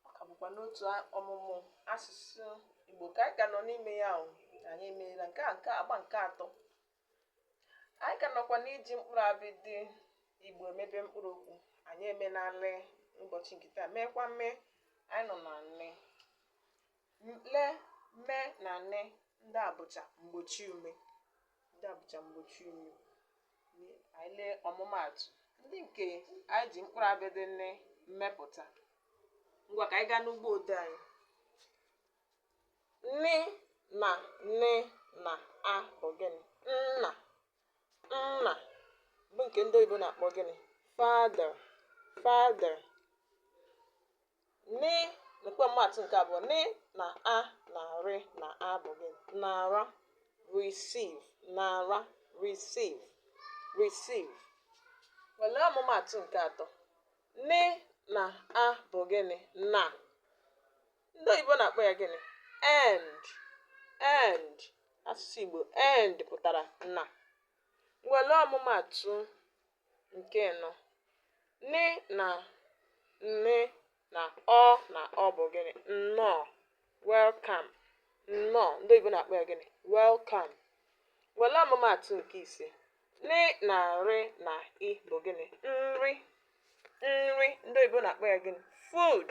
ọ ka bụkwa n'otu a- ọmụmụ asụsụ igbo ka anyị ka nọ n'ime ya ahụ anyị emeela nke a nke a, agba nke atọ anyị ka nọkwa n'iji mkpụrụ abịdị igbo emebe mkpụrụ okwu anyị emena le ụbọchị nke taa meekwa me anyị nọ na ne le me na ne ndị a bụcha mgbochi ume ndị a bụcha mgbochi ume anyị lee ọmụmaatụ ndị nke anyị ji mkpụrụ abịdị ne mepụta ngwa ka anyị gaa n'ugbo ode anyị ne na ne na a bụ gịnị nna nna bụ nke ndị oyibo na-akpọ gịnị father father Nị nakwa ọmụmatụ nke abụọ nị na a na rị na a bụ gịnị nara receive nara receive receive were ọmụmatụ nke atọ nị na a bụ gịnị na ndị oyibo na-akpọ ya gịnị and and asụsụ igbo and pụtara na were ọmụmatụ nke anọ ne na ne na ọ na ọ bụ gịnị nnọọ welcome nnọọ ndị oyibo na-akpọ ya gịnị welcome were ọmụmaatụ nke ise nị na rị na i bụ gịnị nri nri ndị oyibo na-akpọ ya gịnị food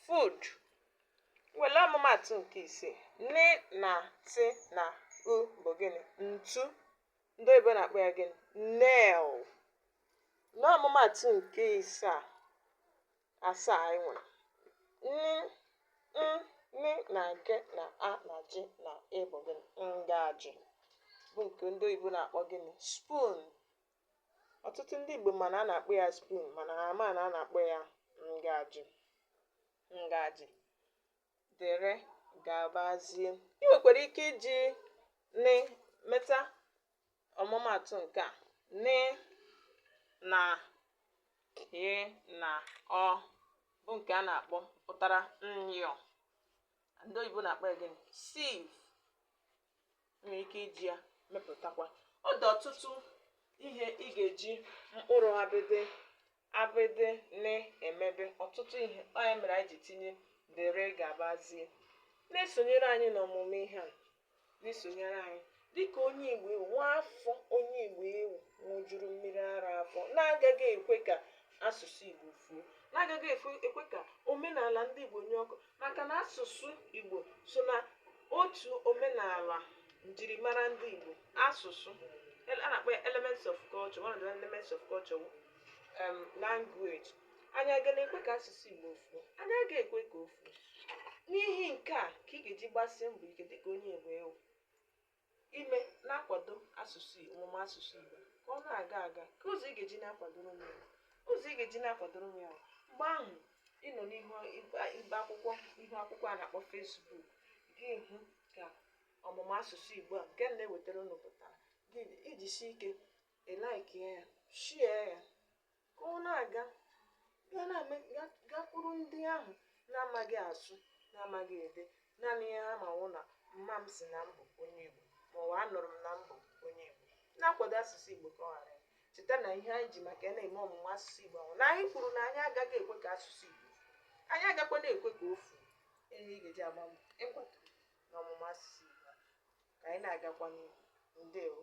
food were ọmụmaatụ nke isii nị na tị na u bụ gịnị ntu ndị oyibo na-akpọ ya gịnị nail n'ọmụmatụ nke isaa asaa anyị nwere nị na gị na a na ji na i bụ gịnị ngaji bụ nke ndị oyibo na-akpọ gịnị spoon ọtụtụ ndị igbo ma na a na-akpọ ya spoon mana ha ama na a na-akpọ ya ngaji ngaji dịrị gabazie. I nwekwara ike iji nị meta ọmụmatụ nke a nị na yị na ọ bụ nke a na-akpọ pụtara nyọ ndị oyibo na-akpọ ya gịnị sieve nwere ike iji ya mepụtakwa ọ dị ọtụtụ ihe ị ga-eji mkpụrụ abịdị abịdị na-emebe ọtụtụ ihe ọ ya mere anyị ji tinye dere gabazie na-esonyere anyị n'ọmụmụ ihe a na-esonyere anyị dịka onye igbo ị wụ nwa afọ onye igbo ị wụ ṅụjuru mmiri ara afọ na-agaghị ekwe ka asụsụ igbo fuo na-agaghị efe- ekwe ka omenala ndị igbo nyụọ ọkụ maka na asụsụ Igbo so na otu omenala njirimara ndị Igbo asụsụ a na-akpọ ya elements of culture one of the elements of culture um, language anyị aga na-ekwe ka asụsụ Igbo fuo anyị aga ekwe ka o fuo n'ihi nke a ka ị ga-eji gbasie mbọ ike dịka onye Igbo ị wụ ime na-akwado asụsụ Igbo ọmụmụ asụsụ Igbo ka ọ na-aga aga ka ụzọ ị ga-eji na-akwadoro m ya ụzọ ị ga-eji na-akwadoro m ya bụ mgbe ahụ ị nọ n'ihu ibe- ibe akwụkwọ ihu akwụkwọ a na-akpọ Facebook gị hụ ka ọmụmụ asụsụ Igbo a nke m na-ewetara unu pụtara gị ijisie ike ịlike ya share ya ka ọ na-aga gaa na-eme ga- gakwuru ndị ahụ na-amaghị asụ na-amaghị ede naanị ihe ha ma wụ na mma m sị na m bụ onye Igbo maọbụ anụrụ m na m bụ onye Igbo na-akwado asụsụ Igbo ka ọ ghara ya. cheta na ihe anyị ji maka ya na-eme ọmụmụ asụsụ Igbo a wụ na anyị kwuru na anyị agaghị ekwe ka asụsụ Igbo anyị agakwa na-ekwe ka o fuo ihe ị ga-eji agba mbọ ịkwado na ọmụmụ asụsụ Igbo a. ka anyị na-agakwa n'ihu ndewo